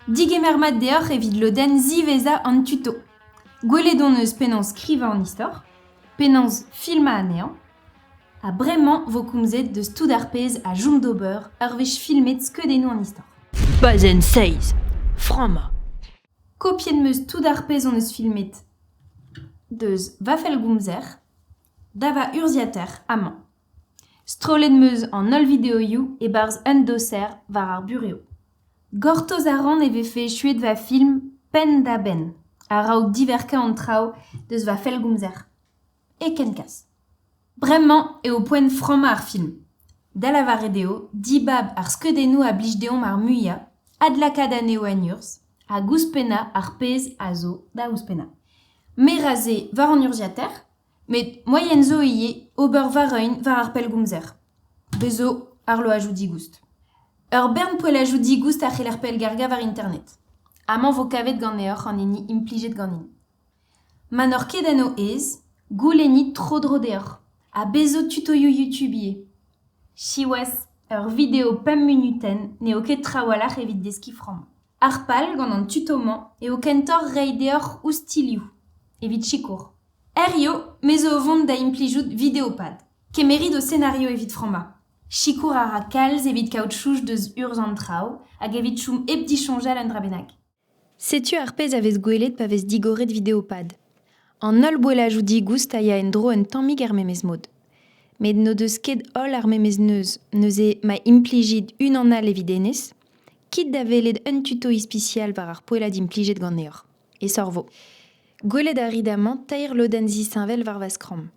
Digemer mat deoc'h evit lodenn ziwezhañ an tuto. Gwelet hon eus penaos skrivañ an istor, penaos filmañ anezhañ, ha bremañ vo komzet deus tout ar pezh a chom d'ober ur wech filmet skeudennoù an istor. Bazenn 6 Frammañ Kopiet 'm eus tout ar pezh hon eus filmet. Deus va fellgomzer da va urzhiataer amañ. Strollet 'm eus an holl videoioù e-barzh un doser war ar burev. Gortoz a ran e vefe echuet va film penn-da-benn a-raok diverkañ an traoù deus va fellgomzer. E kenkaz. Bremañ eo poent frammañ ar film, da lavaret eo dibab ar skeudennoù a blij deomp ar muiañ, adlakaat anezho en urzh hag ouzhpennañ ar pezh a zo da ouzhpennañ. Me ra se war an urzhiataer. met moaien zo ivez ober war-eeun war ar pellgomzer. Bez' zo arloajoù digoust. Ur bern poellajoù digoust a c'heller pellgargañ war internet. Amañ vo kavet ganeoc'h an hini implijet ganin. Ma n'oc'h ket en ho aez, goulennit tro-dro deoc'h. Ha bez' zo tutoioù YouTube ivez. Siwazh, ur video pemp munutenn n'eo ket trawalc'h evit deskiñ from. Ar pal gant an tuto-mañ eo kentoc'h reiñ deoc'h oustilhoù evit sikour. Herrio, me zo o vont da implijout Videopad. Kemerit ho senario evit frammañ. Sikour a ra kalz evit kaout chouch deus urzh an traoù hag evit chom hep disoñjal un dra bennak. Setu ar pezh a vez gwelet pa vez digoret Videopad. An holl boellajoù digoust a ya en-dro un tammig er memes mod. Met n'o deus ket holl ar memes neuz, neuze ma implijit unan all evit hennezh, Kit da welet un tuto ispisial war ar poellad implijet ganeoc'h, e Sorvo. Gwelet a rit amañ teir lodenn zisheñvel war va skramm.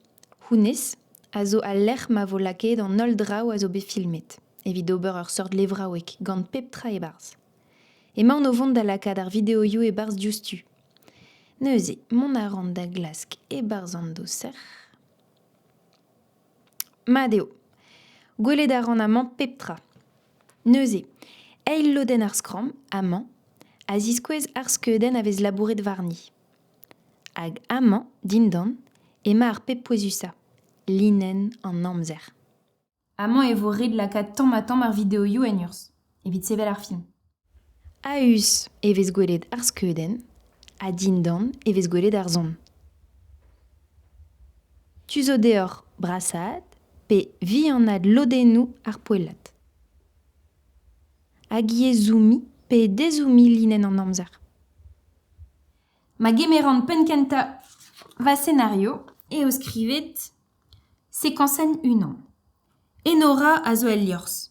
Hounnezh a zo al lec'h ma vo lakaet an holl draoù a zo bet filmet, evit ober ur seurt levraoueg gant pep tra e-barzh. Emaon o vont da lakaat ar videoioù e-barzh diouzhtu. Neuze, mont a ran da glask e-barzh an doser. Mat eo. Gwelet a ran amañ pep tra. Neuze, eil lodenn ar skramm, amañ, a ziskouez ar skeudenn a vez labouret warni. Hag amañ, dindan, emañ ar pep pouezusañ, linenn an amzer. Amañ e vo ret lakaat tamm-ha-tamm ar videoioù en urzh, evit sevel ar film. A-us e vez gwelet ar skeudenn ha dindan e vez gwelet ar son. Tu zo deoc'h brasaat pe vihanaat lodennoù ar poellad. Hag yezhooumi pe dezhooumi linenn an amzer. Ma gemeran penn-kentañ va senario eo skrivet sekansenn unan. Enora a zo el liorzh,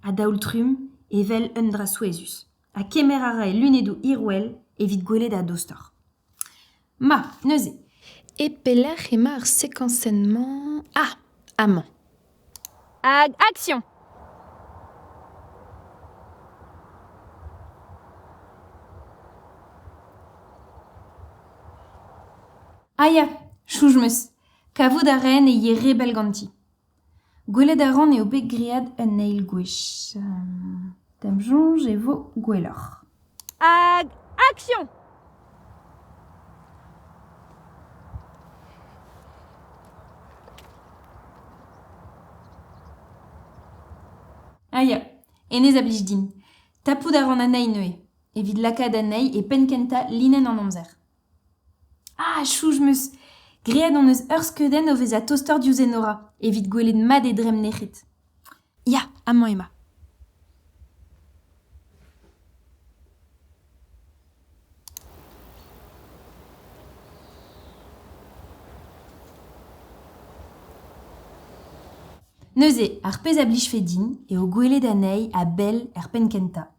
a-daol-trumm evel un dra souezhus, ha kemer a ra e lunedoù hirwel evit gwelet a-dostoc'h. Ma, neuze. E pelec'h emañ ar sekañsenn-mañ? Ah, amañ. Hag action! Ah ya, Choujmeus, kavout a raen e ye re bell ganti. Gwelet a ran eo bet graet un eil gwech. D'am soñj e vo gwelloc'h. Hag action! Ah ya, hennezh a blij din. Tapout a ran anezhi neuze, evit lakaat anezhi e penn kentañ linenn an amzer. Ah chouch 'm eus graet hon eus ur skeudenn o vezañ tostoc'h diouzh Enora evit gwelet mat e dremm nec'het. Ya, amañ ema. Neuze, ar pezh a blijfe din eo gwelet anezhi a-bell er penn kentañ.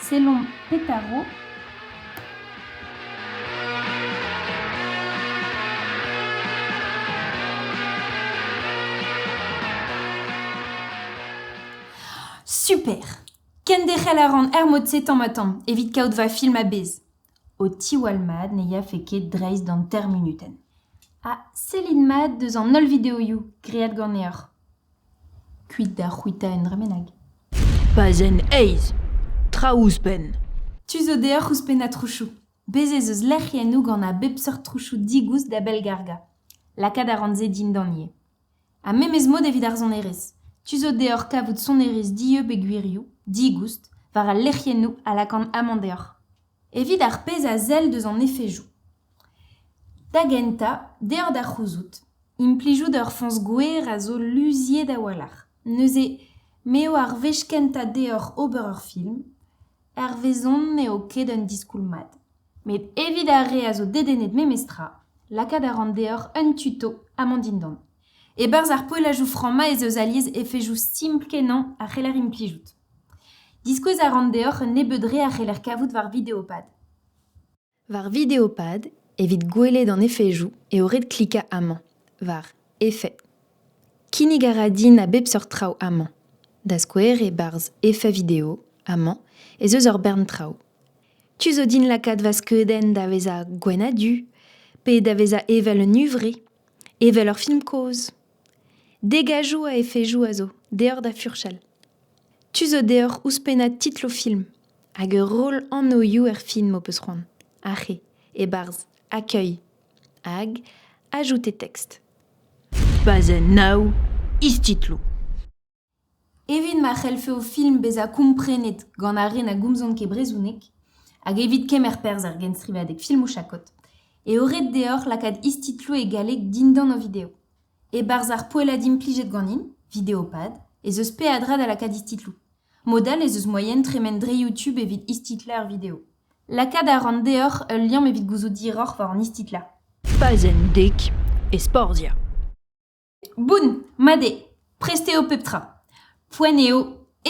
Sellomp petaro. Super Kenderc'hel a ran er mod-se tamm-ha-tamm, evit kaout va film a-bezh. Ho tiwall mat ne yafe ket dreist d'an termunuten. Ha sellit mat deus an holl videoioù graet ganeoc'h. Kuit da c'hwitañ un dra bennak. Pazenn eizh. Tra ouzhpenn. Tu zo deoc'h ouzhpennañ trousoù. Bez' ez eus lec'hiennoù gant a bep seurt trousoù digoust da bellgargañ. Lakaat a ran se dindan ivez. Ha memes mod evit ar sonerezh. Tu zo deoc'h kavout sonerezh dieub e gwirioù, digoust, war al lec'hiennoù a lakan amañ deoc'h. evit ar pezh a sell deus an efejoù. Da gentañ, deoc'h da c'houzout, implijout ur foñs gwer a zo luziet a-walc'h. Neuze m'eo ar wech kentañ deoc'h ober ur film, hervezon n'eo ket un diskoulm mat. Met evit ar re a zo dedennet memestra, lakaat a ran deoc'h un tuto ha mont dindan. E-barzh ar poellajoù franc-mañ ez eus alies efejoù stimpl-kenañ a c'heller implijout. Diskouez a ran deoc'h un nebeud re a c'heller kavout war Videopad. War Videopad, evit gwelet an efezoù, eo ret klikañ amañ, war Effets. Kinnig a ra din a bep seurt traoù amañ. Da skouer, e-barzh Effets vidéo, amañ, ez eus ur bern traoù. Tu zo din lakaat va skeudenn da vezañ gwenn-ha-du, pe da vezañ evel un huñvre, evel ur film kozh. Degajoù a efezoù a zo deoc'h da furchal. Tu zo deoc'h ouzhpennañ titl ho film hag ur roll anvioù er film ho peus c'hoant, ar re e-barzh Accueil hag Ajoutez texte. Bazenn nav, istitloù. Evit ma c'hellfe ho film bezañ komprenet gant ar re na gomzont ket brezhoneg, hag evit kemer perzh er genstrivadeg filmoù chakod, eo ret deoc'h lakaat istitloù e galleg dindan ho video. E-barzh ar poellad implijet ganin, Videopad, ez eus peadra da lakaat istitloù. Mod all ez eus moaien tremen dre YouTube evit istitlañ ur video. Lakaat a ran deoc'h ul liamm evit gouzout diroc'h war an istitlañ. Pazenn dek, Esporzia. Boun, mat eo, prest eo pep tra. Poent eo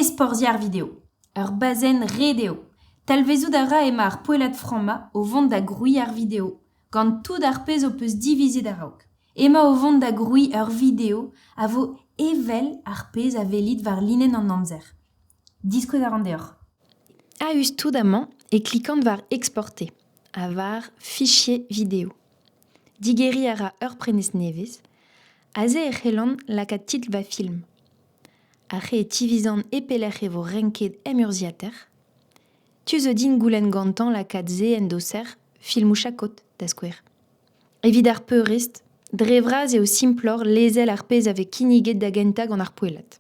ezporzhiañ ar video. Ur bazenn ret eo. Talvezout a ra emañ ar poellad frammañ o vont da grouiñ ar video, gant tout ar pezh ho peus divizet a-raok. Emañ o vont da grouiñ ur video a vo evel ar pezh a welit war linenn an amzer. Diskouez a ran deoc'h. A-us tout amañ e klikan war Exporter ha war Fichier vidéo. Digeriñ a ra ur prenestr nevez. Aze e c'hellan lakaat titl va film. Ar re e tivizan e pelec'h e vo renket emurzhiater. Tu zo din goulenn gantañ lakaat se en doser filmoù chakod, da skouer. Evit ar peurrest, dre vras eo simploc'h lezel ar pezh a vez kinniget da gentañ gant ar poellad.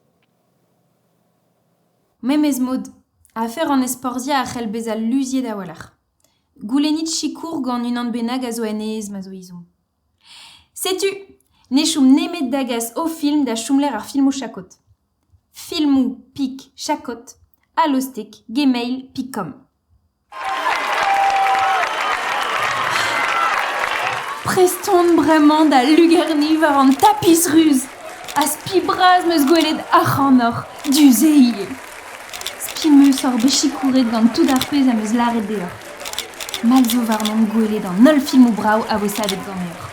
Memes mod, afer an ezporzhiañ a c'hell bezañ luziet a-walc'h. Goulennit sikour gant unan bennak a zo aes ma zo ezhomm. Setu, ne chom nemet da gas ho film da chomlec'h ar filmoù chakod. Filmoù pik chakod, alostek, gmail, pik.com. Prest on bremañ da lugerniñ war an tapis ruz ha spi bras 'm eus gwelet ac'hanoc'h du-se ivez. Spi 'm eus hor beus sikouret gant tout ar pezh am eus lâret deoc'h. Mall zo warnomp gwelet an holl filmoù brav a vo savet ganeoc'h.